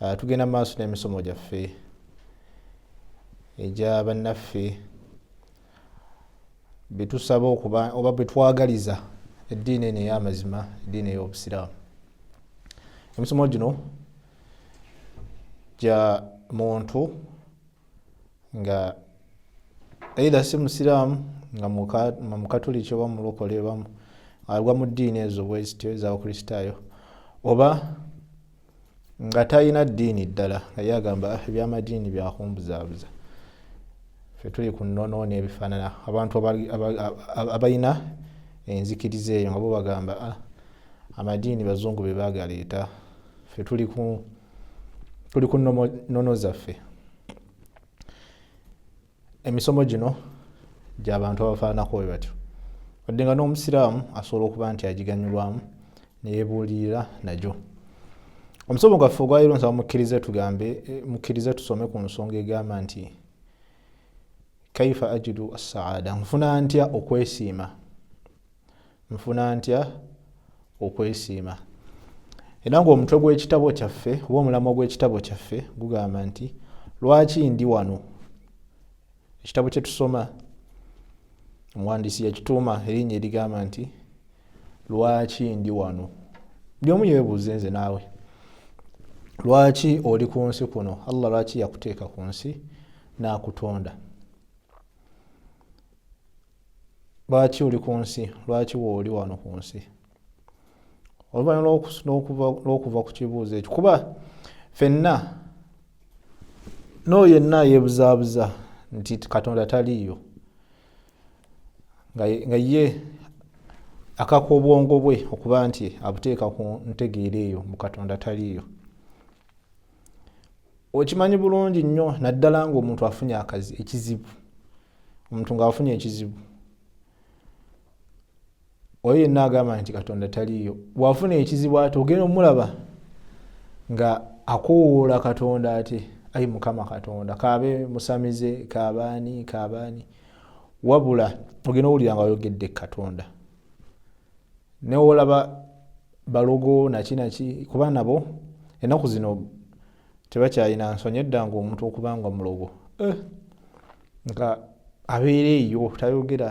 Uh, tugenda maaso n'emisomo gyaffe egya bannaffe betusaba okuba oba betwagaliza eddiini eno ey'amazima eddiini ey'obusiraamu emisomo gino gya muntu nga either si musiraamu nga mukatuliki oba mulokole bamu agwa mu ddiini ezo bwezityo ezabukristaayo oba nga talina ddiini ddala nga ye agamba ah, ebyamadiini byakumbuzaabuza fe tuli ku nnono n'ebifaanana abantu abalina enzikiriza eyo nga bo bagamba ah, amadiini bazungu be baagaleeta fe tuli ku tuli ku nono zaffe emisomo gino gyabantu abafaanako we batyo wadde nga n'omusiraamu asobola okuba nti agiganyulwamu neyebuulirira nagyo omusomo gwaffe ogwaliro nsaba mukkirize tugambe eh, mukkirize tusome ku nsonga egamba nti kaifa ajidu assaada nfuna ntya okwesiima nfuna ntya okwesiima era ngaomutwe gw'ekitabo kyaffe oba omulamwa gw'ekitabo kyaffe gugamba nti lwaki ndi wano ekitabo kye tusoma omuwandiisi yakituuma erinnya erigamba nti lwaki ndi wano buli omu yebuuze nze naawe lwaki oli ku nsi kuno allah lwaki yakuteeka ku nsi n'akutonda lwaki oli ku nsi lwaki wooli wano ku nsi oluvannyuma lw'okuva ku kibuuzo ekyo kuba fenna n'oyo yenna yeebuzaabuza nti katonda taliiyo nga ye akaka obwongo bwe okuba nti abuteeka ku ntegeera eyo mu katonda taliiyo okimanyi bulungi nnyo naddala ngaomuntu afunye akazi ekizibu omuntu ng'afunye ekizibu oyo yenna agamba nti katonda taliiyo bwafuna ekizibu ate ogenda omulaba nga akowoola katonda ate ayi mukama katonda kaabe musamize kaabaani kaabaani wabula ogenda owulira nga oyogedde katonda newolaba balogo naki naki kuba nabo enaku zino tebakyalina nsonyi edda nga omuntu okuba nga mulogo eh, nga abeera eyo tayogera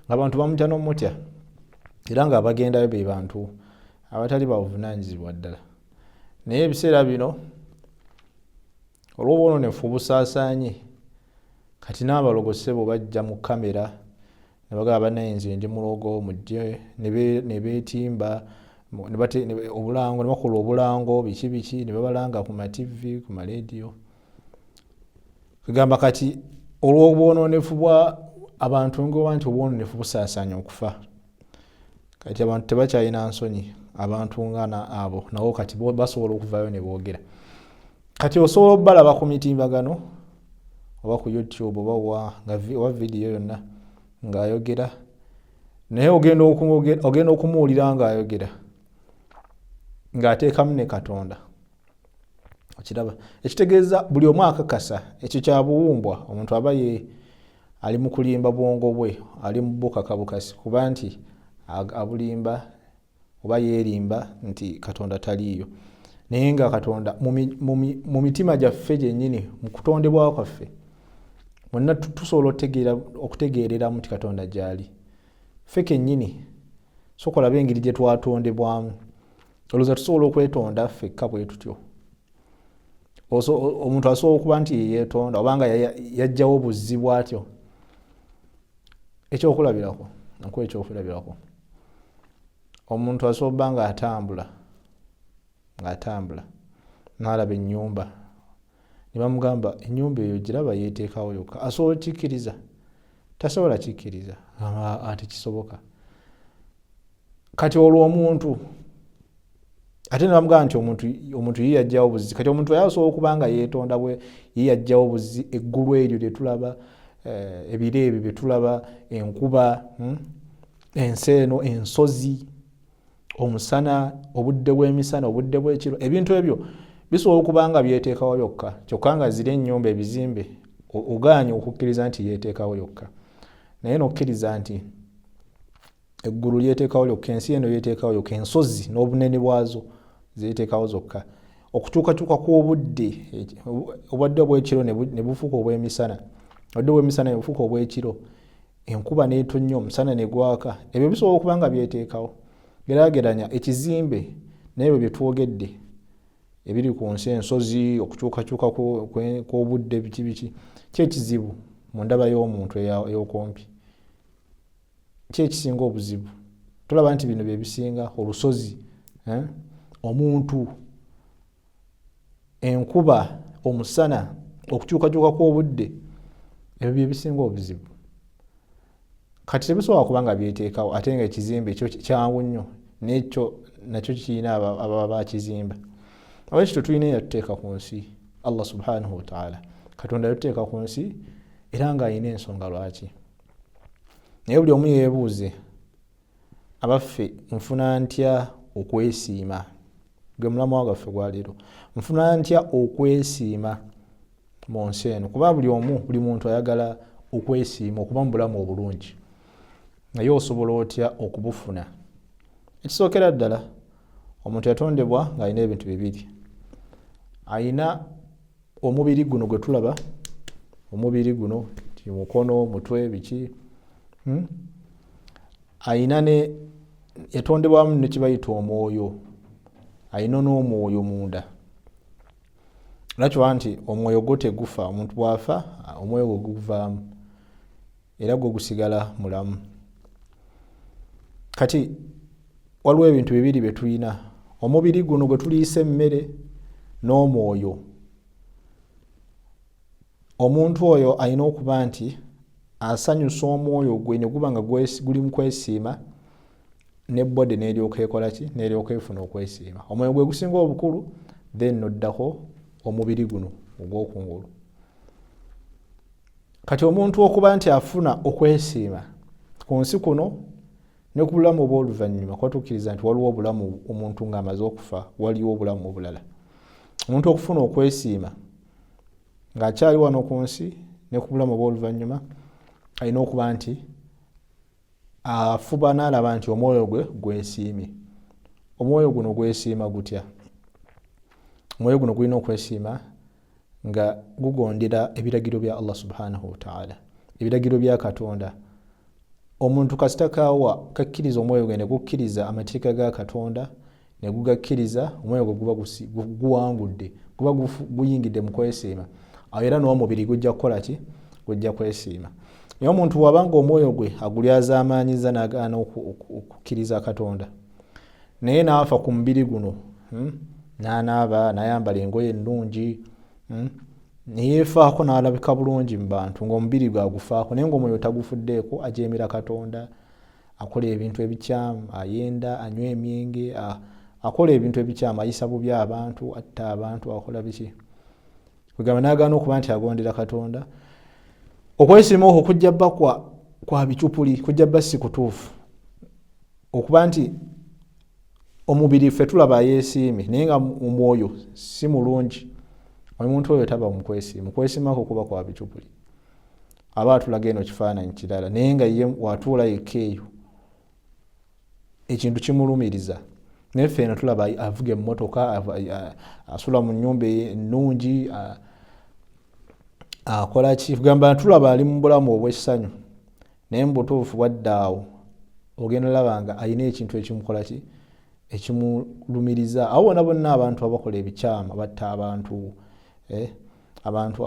nga bantu bamutya nomutya era nga abagendayo be bantu abatali bavunanyizibwa ddala naye ebiseera bino olwobwononefu obusaasaanye kati n'abalogo ssebo bajja mu kamera nebagaba banaye nze ndi mulogo mujje nebetimba obulango nebakola obulango biki biki nebabalanga ku mativi ku malediyo kegamba kati olwobwononefu bwa abantu ngoba nti obwononefu busasanya okufa kati abantu tebakyalina nsonyi abantu ngana abo nawo kati basobola okuvayo nebogera kati osobola obalaba ku mitimbagano oba ku youtube oba wa nga oba vidiyo yonna ng'ayogera naye ogenda ogenda okumuwulira ng'ayogera ng'ateekamu ne katonda okiraba ekitegeeza buli omu akakasa ekyo kya buwumbwa omuntu aba ye ali mu kulimba bwongo bwe ali mu bukaka bukasi kuba nti abulimba oba yeerimba nti katonda taliiyo naye nga katonda mu mitima gyaffe gyennyini mu kutondebwa kwaffe mwenna tusobola okutegeereramu nti katonda gyali ffe kennyini sokolabe engeri gye twatondebwamu olowooza tusobola okwetonda ffekka bwe tutyo omuntu asobola okuba nti yeyetonda obanga yajjawo buzzi bwatyo ekyokulabirako nkuwa ekyokulabirako omuntu asoba nga atambula nga atambula nalaba enyumba nebamugamba enyumba eyo giraba yeteekawo yokka asobola okikkiriza tasobola kikkiriza aa tekisoboka kati olwo omuntu ate nebamugamba nti omuntu omuntu ye yajjawo buzi kati omuntu ayasobola okuba nga yeetonda bwe ye yajjawo buzi eggulu eryo lyetulaba eh, ebiro ebyo byetulaba enkuba hmm, ensi eno ensozi omusana obudde bw'emisana obudde bw'ekiro ebintu ebyo bisobola okuba nga byeteekawo yokka kyokka nga ziri ennyumba ebizimbe ogaanye okukkiriza nti yeeteekawo yokka naye nokkiriza nti eggulu lyeteekawo lyokka ensi eno yeteekawo yokka ensozi n'obunene bwazo zeteekawo zokka okukyukakyuka kw'obudde obwadde obwekiro ne bufuuka obw'emisana obwadde obw'emisana ne bufuuka obw'ekiro enkuba n'etonnya omusana ne gwaka ebyo bisobola okuba nga byeteekawo gerageranya ekizimbe naebyo bye twogedde ebiri ku nsi ensozi okukyukakyuka kw'obudde biki biki kyekizibu mu ndaba y'omuntu ey'okumpi ki ekisinga obuzibu tulaba nti bino byebisinga olusozi eh? omuntu enkuba omusana okukyukakyuka kw'obudde ebyo byebisinga obuzibu kati tebisobola kuba nga byeteekawo ate nga ekizimbe ekyo kyangu nnyo nekyo nakyo kirina ababa bakizimba aba ekyo tetulina eyatuteeka ku nsi allah subhanahu wataala katonda yatuteeka ku nsi era ng'alina ensonga lwaki naye buli omu yeebuuze abaffe nfuna ntya okwesiima gwe mulamu wa gwaffe gwaleero nfuna ntya okwesiima mu nsi eno kuba buli omu buli muntu ayagala okwesiima okuba mu bulamu obulungi naye osobola otya okubufuna ekisookera ddala omuntu yatondebwa ng'alina ebintu bibiri alina omubiri guno gwe tulaba omubiri guno mukono mutwe biki hmm? ayina ne yatondebwamu nekibayita omwoyo ayina n'omwoyo munda lwakiba nti omwoyo gwo tegufa omuntu bwafa omwoyo gwe guvaamu era gwo gusigala mulamu kati waliwo ebintu bibiri bye tulina omubiri guno gwe tuliisa emmere n'omwoyo omuntu oyo alina okuba nti asanyusa omwoyo gwe ne guba nga guli mu kwesiima ne body neryoka ekola ki neryoka efuna okwesiima omwoyo gwe gusinga obukulu then noddako omubiri guno ogwokungulu kati omuntu okuba nti afuna okwesiima ku nsi kuno ne ku bulamu obw'oluvannyuma kuba tukkiriza nti waliwo obulamu omuntu ng'amaze okufa waliwo obulamu obulala omuntu okufuna okwesiima ng'akyali wano ku nsi ne ku bulamu obw'oluvannyuma alina okuba nti afuba n'alaba nti omwoyo gwe gwesiimye omwoyo guno gwesiima gutya omwoyo guno gulina okwesiima nga gugondera ebiragiro bya allah subhanahu wataala ebiragiro bya katonda omuntu kasita kawa kakkiriza omwoyo gwe ne gukkiriza amateeka ga katonda ne gugakkiriza omwoyo gwe guba guwangudde guba guyingidde mu kwesiima awo era n'omubiri gujja kukola ki gujja kwesiima naye omuntu wabanga omwoyo gwe agulyazaamaanyiza n'agaana okukkiriza katonda naye naafa ku mubiri guno hmm? nanaaba nayambala engoye ennungi hmm? neyeefaako n'alabika bulungi mu bantu ng'omubiri gwe agufaako naye ng'omwoyo tagufuddeeko ajeemera katonda akola ebintu ebikyamu ayenda anywa emyenge akola ebintu ebikyamu ayisa bubi abantu atta abantu akola biki kwegamba nagaana okuba nti agondera katonda okwesima okwo kujja bba kwa bicupuli kujja bba si kutuufu okuba nti omubiri ffe tulaba yesiimi naye nga omwoyo si mulungi omuntu oyo taba mukwesiima mukwesimako kuba kwa bicupuli aba atulaga eno kifaananyi kirala naye nga ye watuula yekka eyo ekintu kimulumiriza naye ffe eno tulaba avuga emmotoka asula mu nyumba ennungi akola ki kugamba tulaba ali mu bulamu obw'essanyu naye mu butuufu bwadda awo ogenda olaba nga alina ekintu ekimukola ki ekimulumiriza awo bona bonna abantu abakola ebikyamu batta abantu eh? abantu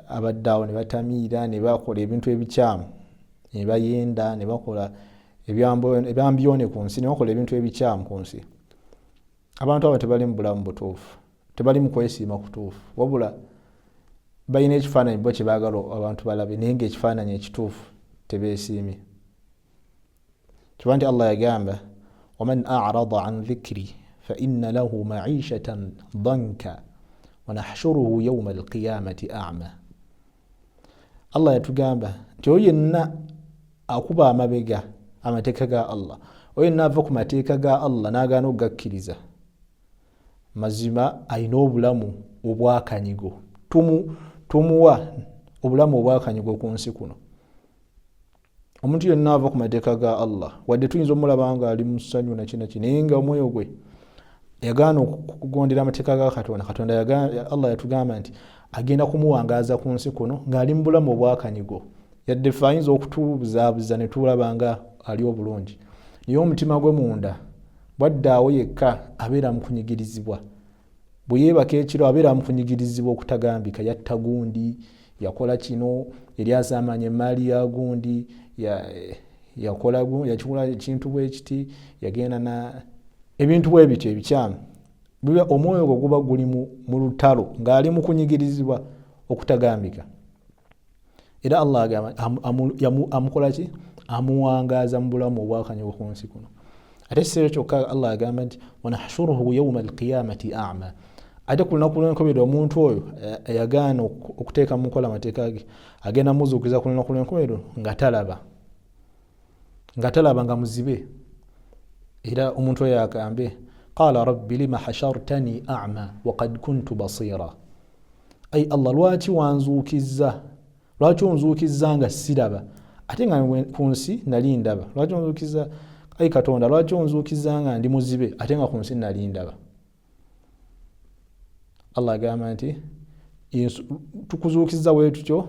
abadde awo nebatamiira nebakola ebintu ebikyamu nebayenda nebakola ebyambyone ku nsi nebakola ebintu ebikyamu ku nsi abantu abo tebali mu bulamu butuufu tebali mu kwesiima kutuufu wabula balina ekifaananyi bo kyebagala abantu balabe naye ngaekifaananyi ekituufu tebesiimye kiba nti allah yagamba waman arada an dhikri faina lahu maishatan danka wanahshuruhu yauma alqiyamati ama allah yatugamba nti oyo yenna akuba amabega amateeka ga allah oyo yenna ava ku mateeka ga allah nagaana okugakkiriza mazima alina obulamu obwakanyigo tumuwa obulamu obwakanyigo ku nsi kuno omuntu yenna ava ku mateeka ga allah wadde tuyinza omulaba nga ali musanyu nakinaki naye nga omwoyo gwe yagaana okugondera amateeka ga katonda katonda allah yatugamba nti agenda kumuwangaaza ku nsi kuno ng'ali mu bulamu obwakanyigo yadde fe ayinza okutubuzaabuza ne tulaba nga ali obulungi naye omutima gwe munda bwaddaawo yekka abeera mu kunyigirizibwa bwe yeebaka ekiro abeera mukunyigirizibwa okutagambika yatta gundi yakola kino eri asaamanya emaali ya gundi yakikola ekintu bwekiti yagenda na ebintu bwe bityo ebikyamu biba omwoyo gwe guba guli mu lutalo ng'ali mukunyigirizibwa okutagambika era allah agamba amukola ki amuwangaaza mu bulamu obwakanyoko ku nsi kuno ate ekiseera kyokka allah agamba nti wanahshuruhu yauma alqiyamati ama ate ku lunaku lwenkomerero omuntu oyo eh, eyagaana okuteeka mu nkola amateeka ge agenda muzuukiza ku lunaku lwenkomerero nga talaba nga talaba nga muzibe era omuntu oyo agambe qala rabbi lima hashartani ama wakad kuntu basira ayi allah lwaki wanzuukizza lwaki onzuukizza nga siraba ate nga ku nsi nali ndaba lwaki onzuukizza ayi katonda lwaki onzuukizza nga ndi muzibe ate nga ku nsi nali ndaba allah agamba nti tukuzuukizza wee tutyo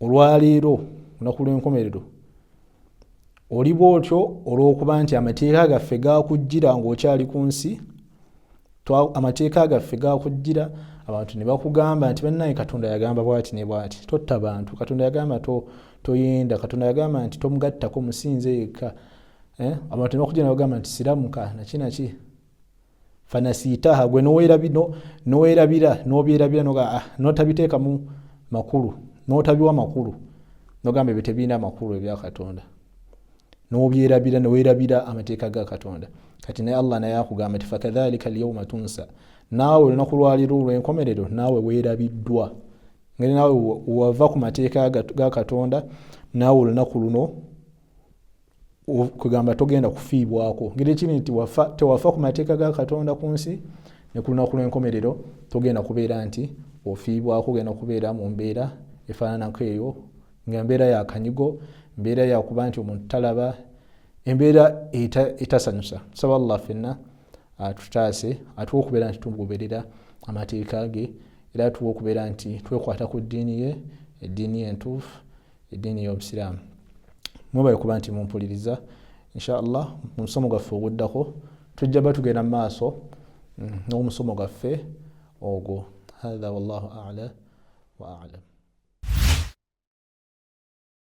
olwaleero lunaku lw'enkomerero oli bwotyo olw'okuba nti amateeka gaffe gakujjira ng'okyali ku nsi amateeka gaffe gakujjira abantu ne bakugamba nti bannange katonda yagamba bwati ne bwati totta bantu katonda yagamba toyenda katonda yagamba nti tomugattako musinze yekka eh? abantu ne bakujjira ne bagamba nti siramuka nakinaki fanasiitaha gwe nowerabira nobyerabira noga ah, notabiteekamu makulu notabiwa makulu nogamba ebyo tebirina makulu ebyakatonda nobyerabira nowerabira amateeka ga katonda kati naye allah naye akugamba ti fakadhalika alyauma tunsa naawe olunaku lwaliro olwenkomerero naawe werabiddwa ngeri naawe wava ku mateeka ga katonda naawe olunaku luno kwegamba togenda kufiibwako ngeri ekiri nti tewafa ku mateeka ga katonda ku nsi ne ku lunaku lw'enkomerero togenda kubeera nti ofiibwako ogenda kubeera mu mbeera efaananako eyo nga mbeera ya kanyigo mbeera yakuba nti omuntu talaba embeera etasanyusa tusaba allah fenna atutaase atuwa okubeera nti tugoberera amateeka ge era atuwa okubeera nti twekwata ku ddiini ye eddiini entuufu eddiini y'obusiraamu mwebale kuba nti mumpuliriza inshallah mu musomo gwaffe oguddako tujja ba tugenda mu maaso mm, n'omusomo gwaffe ogwo hatha wallahu ala wa alam